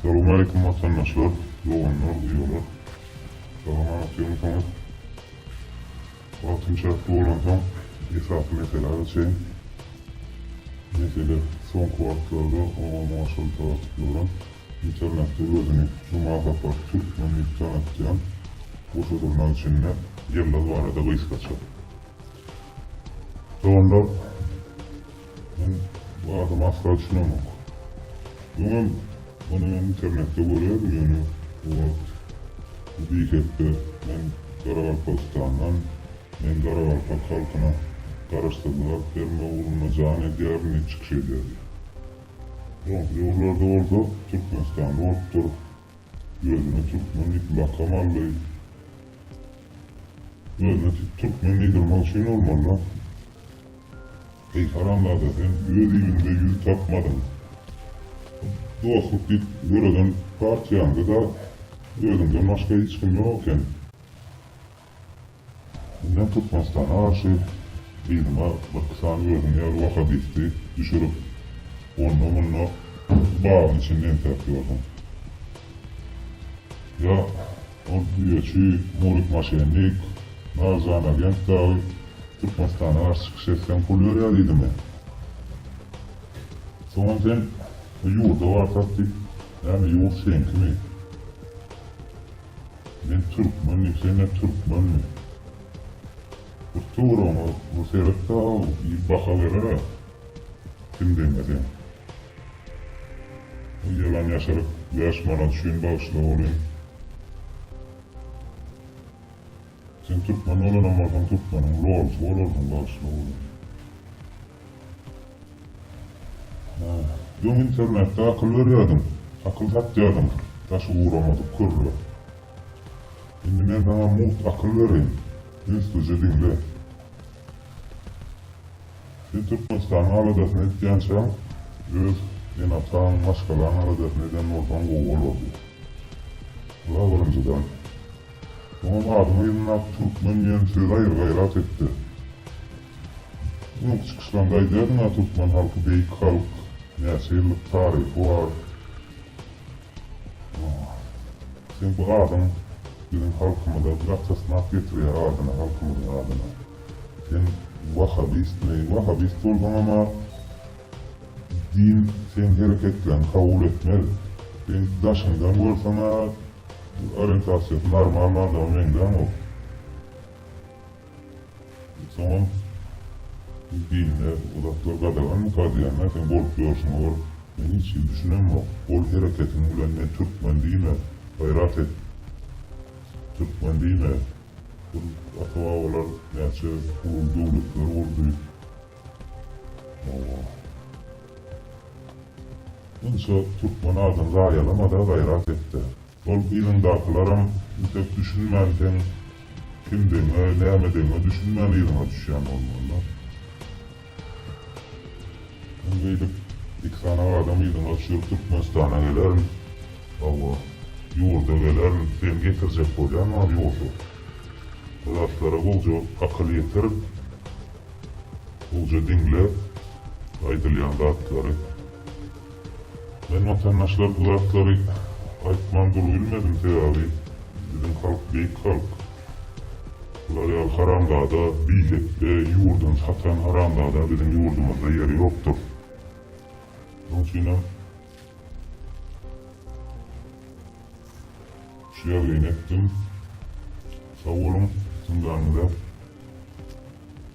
Salam aleýkum watandaşlar, doganlar, uýalar. Salamat ýöňsoňiz. Wagtym çäkli bolansoň esasy meselä geçeýin. Mesele soňky wagtlarda oňa-muňa aşylyp ýatyplaram internetde özüni Jumagapar Türkmen diýip tanatýan goşa zurna içinde Ýyldyz barada gysgaça. Doganlar. Men bu adama asla düşünemok. Öňem ony men internetde görýädim, ýöne o wagt bu bihepbe men Garagalpagystandan, men garagalpak halkyna garaşsyzlyk alyp bermek ugrunda jan edýärin diýip çykyş edýärdi. Soňky döwürlerde bolsa Türkmenistanda bolupdyr, özüne türkmen diýip lakam aldy. Özüne türkmen diýdirmek üçin bolmaly-da. Heýhana Allada sen öz iliňde ýüz tapmadyň. Dostluk diýip döreden partiýaňda-da özüňden başga hiç kim ýok eken. Indem Türkmenistana garşy yzyňa birki sany özüň ýaly wahabisti düşürip, onda-munda bagyň içinde entäp ýörsüň. Ýa Ol güreşçi Nurik Maşennik, Narzan Agent dagy Türkmenistana garşy çykyş etseň pul berýär diýdimi? Soňam sen bu ýurda barsak diýip näme ýurt seňkimi? Men türkmen diýip senle türkmenmi? Bir töweregiňe bir seret dagy bir baha berere kim deňe seň. Ýylan ýaşyryp bäş manat üçin bagyşla oly. Sen türkmen bolanam bolsaň türkmeniň lolysy bolarsyň bagyşla oly. Öň internetde akyl berýärdiň, akyl satýardyň daşy uramadyk körre. Indi men saňa mugt akyl bereýin, ünslice diňle. Sen Türkmenistanyň aladasyny etýänçä, öz ene-ataň, maşgalaň aladasyny eden bolsaň gowy bolardy. Ula birinjiden, soňam adyňy ýygnap türkmen diýen sözi aýry gaýrat etde. Öňki çykyşlaňda aýdýadyň-a türkmen halky beýik halk, näçe ýyllyk taryhy bar. Sen bu adyň biziň halkymyza gatasnak getirýär adyna halkymyzyň adyna. Sen wahabistmi wahabist bolsaňama din seň hereketleň kabul etmez. Seň daşyňdan görseňa orientasiýasy normalny adama meňzäňok. Soňam bu dinde uzaklar gadaganmy kadýanlar sen bolup ýörşüňe bir men hiç hili düşünemok ol hereketiň bilen men türkmen diýme gaýrat et türkmen diýme bir ata babalar näçe uly döwletler gurdy owwa munça türkmen adyny zaýalamada gaýrat etde Ol yzyndakylaram entek düşünmän seň kimdigiňe, nämedigňe düşünmän yzyňa düşýän bolmalylar. Men beýdip iki sany adam yzyňa düşürip Türkmenistana gelerin. Hawa, ýurda gelerin, seni getirjek bolýanam ýogsy. Bu zatlara gowja akyl ýetir, gowja diňle aýdylýan zatlary. Men watandaşlar bu zatlary aýtman dur bilmedim sebabi biziň halk beýik halk. Bular ýaly haramzada bisekde ýurdun satan haramzada biziň ýurdumyzda ýeri ýokdur. Şoň üçinem şu ýazgyny etdim. Sag boluň, syndaňyza.